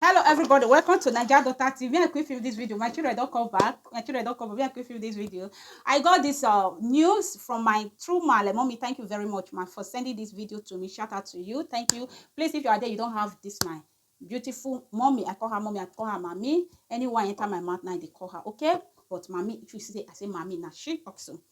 hello everybody welcome to naija daughter tv i quick film this video my children don't come back my children don't come back i quick film this video i got this uh news from my true male mommy thank you very much ma for sending this video to me shout out to you thank you please if you are there you don't have this my beautiful mommy i call her mommy i call her mommy anyone enter my mouth now they call her okay but mommy if you say i say mommy now she also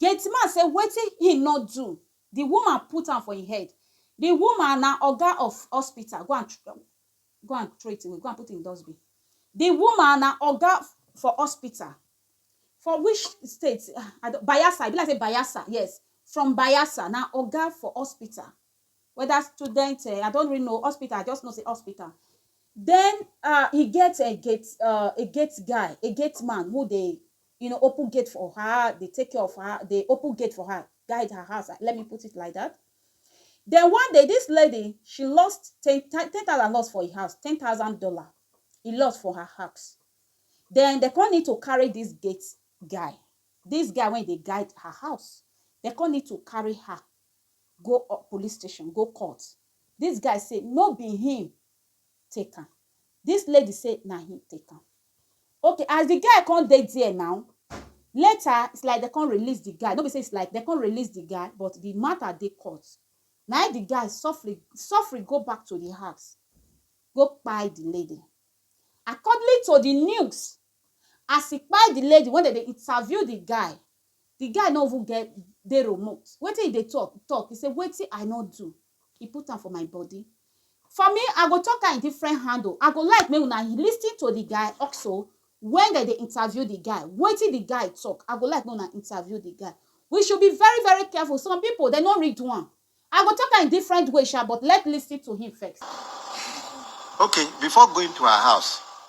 Gate man say wetin him no do the woman put am for him head the woman na oga of hospital go and go and throw it away go and put in dustbin the woman na oga for hospital for which state I don Bayelsa e be like say Bayelsa yes from Bayelsa na oga for hospital whether student um I don't really know hospital I just know say hospital then um e get um gate um a gate guy a gate man who dey you know open gate for her dey take care of her dey open gate for her guide her house let me put it like that then one day this lady she lost ten ten thousand lost for her house ten thousand dollar e lost for her house then they come need to carry this gate guy this guy wey dey guide her house they come need to carry her go up police station go court this guy say no be him take am this lady say na him take am Okay as the guy come dey there now later is like dem come release the guy no be say is like dem come release the guy but the matter dey court na him the guy suffering suffering go back to the house go kpai the lady accordingly to the news as he kpai the lady when dem dey interview the guy the guy no even get dey remote wetin he dey talk talk he say wetin I no do He put am for my body. For me, I go talk am in different handle. I go like make una listen to the guy also when dem dey interview the guy. Wetin the guy talk, I go like make una interview the guy. We should be very very careful. Some people dem no read one. I go talk am in different way sha but let's listen to him first. Okay, before going to her house,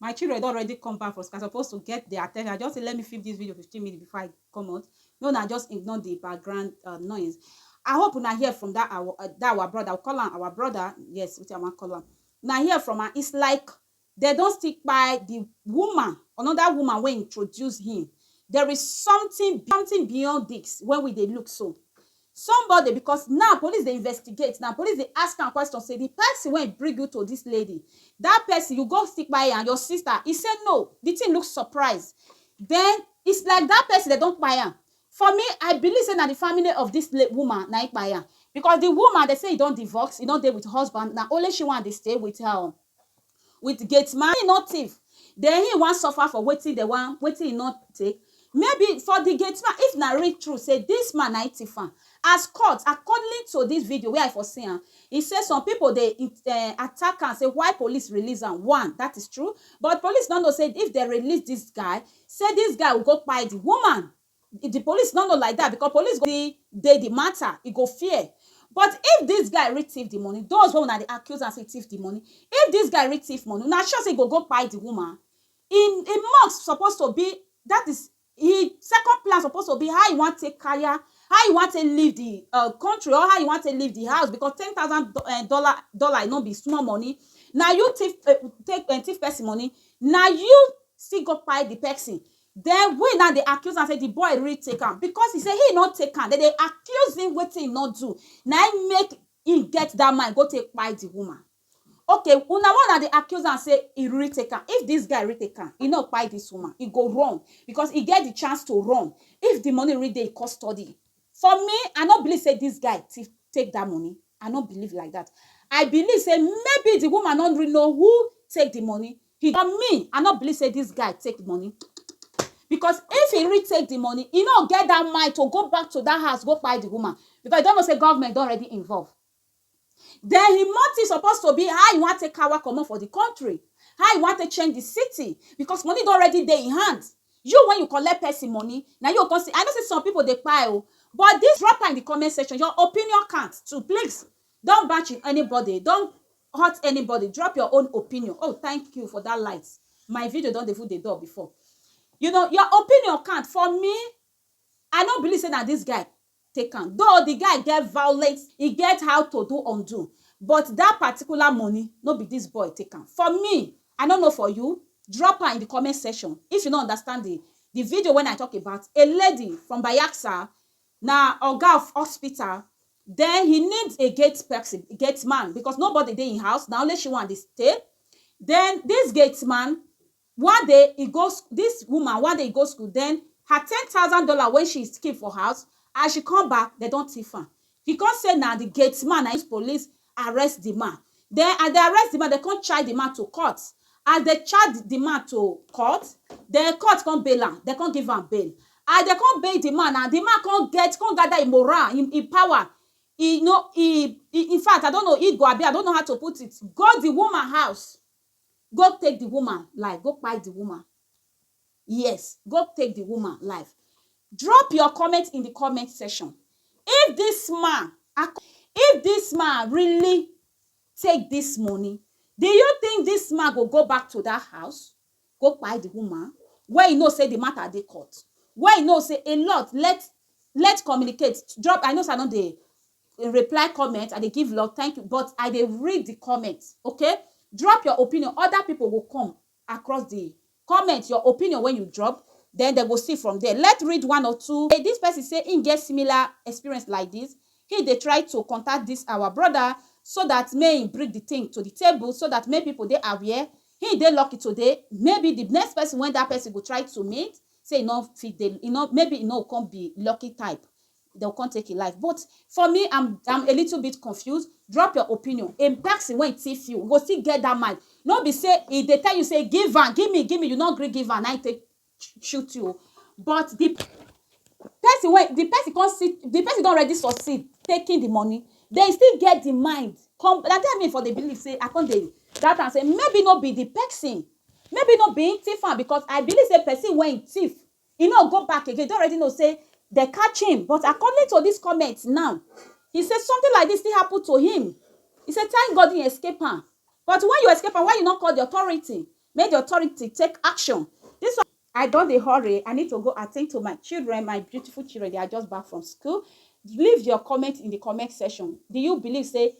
my children don already come back from school i suppose to get their attention i just say let me film this video 15 minutes before i come out no una just ignore the background uh, noise i hope una hear from that our uh, that our brother we call am our brother yes wetin i wan call am una hear from am it's like they don still kpai the woman another woman wey introduce him there is something something beyond this when we dey look so Somebody because now police dey investigate now police dey ask am question say the person wey bring you to this lady that person you go still kpai am your sister he say no the thing look surprise then it's like that person dem don kpai am for me I believe say na the family of this la woman na him kpai am because the woman dem say he don divorce he no dey with husband na only she wey dey stay with her with gate man he no thief then he wan suffer for wetin dem wan wetin he no take maybe for the gate man if na real true say this man na him thief am as court accordingly to this video wey I for see am he say some people dey um attack am say why police release am one that is true but police no know say if dem release this guy say this guy will go kpai the woman If di police no know like dat because police go still dey di matter, e go fear. But if dis guy really thief di money, those wey una dey accuse am say e thief di money, if dis guy really thief money, una sure say e go go kpai di woman? Im im must suppose to be, dat is, im second plan suppose to be how e wan take kaya, how e wan take leave di um country or how e wan take leave di house because ten thousand um dollar dollar no be small money. Na you thief um take um thief person money, na you still go kpai di person. Den we now dey accuse am say di boy really take am because he say he no take am, dem dey accuse him wetin he no do na him make him get dat mind go take kpai di woman. Ok una wey una dey accuse am say he really take am, if dis guy really take am he no kpai dis woman, he go run because he get di chance to run if di money really dey him custody. For me I no believe say dis guy take dat money. I no believe like that. I believe say maybe the woman no really know who take the money. He, but me, I no believe say this guy take the money. Because if he really take the money, he no get that mind to go back to that house, go buy the woman. Because he don't know say government don already involve. Then he motive suppose to be how he wan take kawa comot for the country, how he wan take change the city because money don already dey in hand. You when you collect person money na you go come say I know say some people dey kpai o but this drop am in the comment section your opinion count too please don't bash anybody don't hurt anybody drop your own opinion oh thank you for that light my video don dey even dey dull before you know your opinion count for me I no believe say na this guy take am though the guy get violent e get how to do undo but that particular money no be this boy take am for me i no know for you drop am in the comment section if you no understand the the video when i talk about a lady from bayaksa na oga of hospital then he need a gate person gate man because nobody dey in house na only she wan dey stay then this gate man One day e go sch this woman one day e go school then her ten thousand dollar wey she keep for house as she come back dem don thief am she come say na the gate man na him police arrest the man then as dem arrest the man dem come charge the man to court as dem charge the man to court then court come bail am dem come give am bail as dem come bail the man now the man come get come gather him moral him him power he no he he infact I don't know he go abi I don't know how to put it go the woman house Go take di woman life, go kpai di woman, yes go take di woman life. Drop your comment in di comment section if dis man ak if dis man really take dis money, do you think dis man go go back to dat house go kpai di woman wey he know sey di matter dey court, wey he know sey a lot let let communicate drop I know sey I no dey reply comment, I dey give love, thank you but I dey read the comment okay. Drop your opinion, other people go come across the comment, your opinion wey you drop then dem go see from there. Let's read one or two. This person say him get similar experience like this, him dey try to contact this our brother so that make him bring the thing to the table so that make people dey aware. Him dey lucky today, maybe the next person wey that person go try to meet say he no fit dey, he no, maybe he no go come be lucky type. Dem go come take im life but for me am am a little bit confused drop your opinion a person wey thief you go still get that mind no be say e dey tell you say give am give me give me you no gree give am na im take shoot you but the person wey the person come see the person don already succeed taking the money then e still get the mind come na there me for dey believe say I come dey doubt am say maybe no be the person maybe no be im thief am because I believe say person wey thief He no go back again, he don already know say dem catch him but according to this comment now, he say something like this still happen to him, he say thank God he escape am but when you escape am why you no call the authority make the authority take action this one. I don dey hurry, I need to go attend to my children, my beautiful children, they are just back from school, leave your comment in the comment section, do you believe say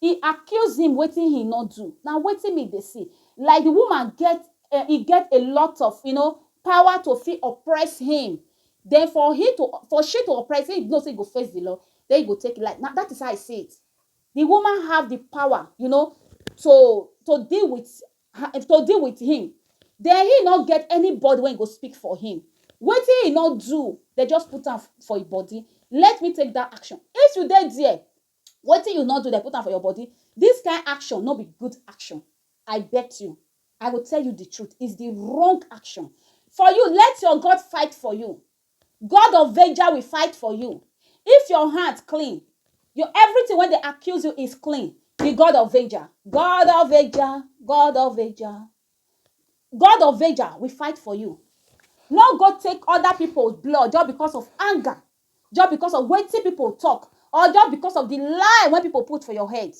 He accuse him wetin he no do, na wetin me dey see, like the woman get eh, e get a lot of you know power to fit oppress him, then for he to for she to oppress him, he know say he go face the law, then he go take life, na that is how I see it, the woman have the power you know to to deal with her, to deal with him, then he no get anybody wey go speak for him, wetin he no do, dem just put am for him body, let me take that action, if you dey there, Wetin you no do, dem put am for your body. This kind action no be good action. I bet you, I go tell you the truth, is the wrong action. For you, let your God fight for you. God of Veja will fight for you. If your heart clean, your everything when they accuse you is clean. The God of Veja, God of Veja, God of Veja, God of Veja will fight for you. No go take other people's blood just because of anger just because of wetin people talk or just because of the lie wey people put for your head.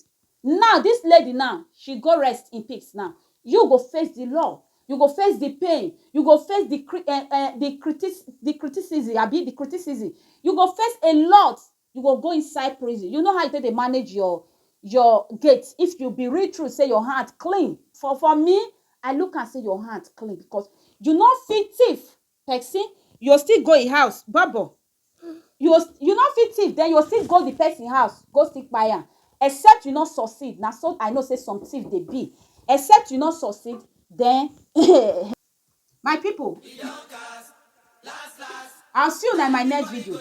Now this lady now, she go rest in peace now. You go face the law, you go face the pain, you go face the cri um um the criti the criticism abi the criticism, you go face a lot, you go go inside prison. You know how you take dey manage your your gate if you be real true sey your hand clean. For for me, I look am sey your hand clean because you no fit thief Pesin you go still go im house bobo you go you no fit thief den you go still go di pesin house go still kpai am except you no succeed na so I know sey some thief dey be except you no succeed den um my pipu as you na my next video.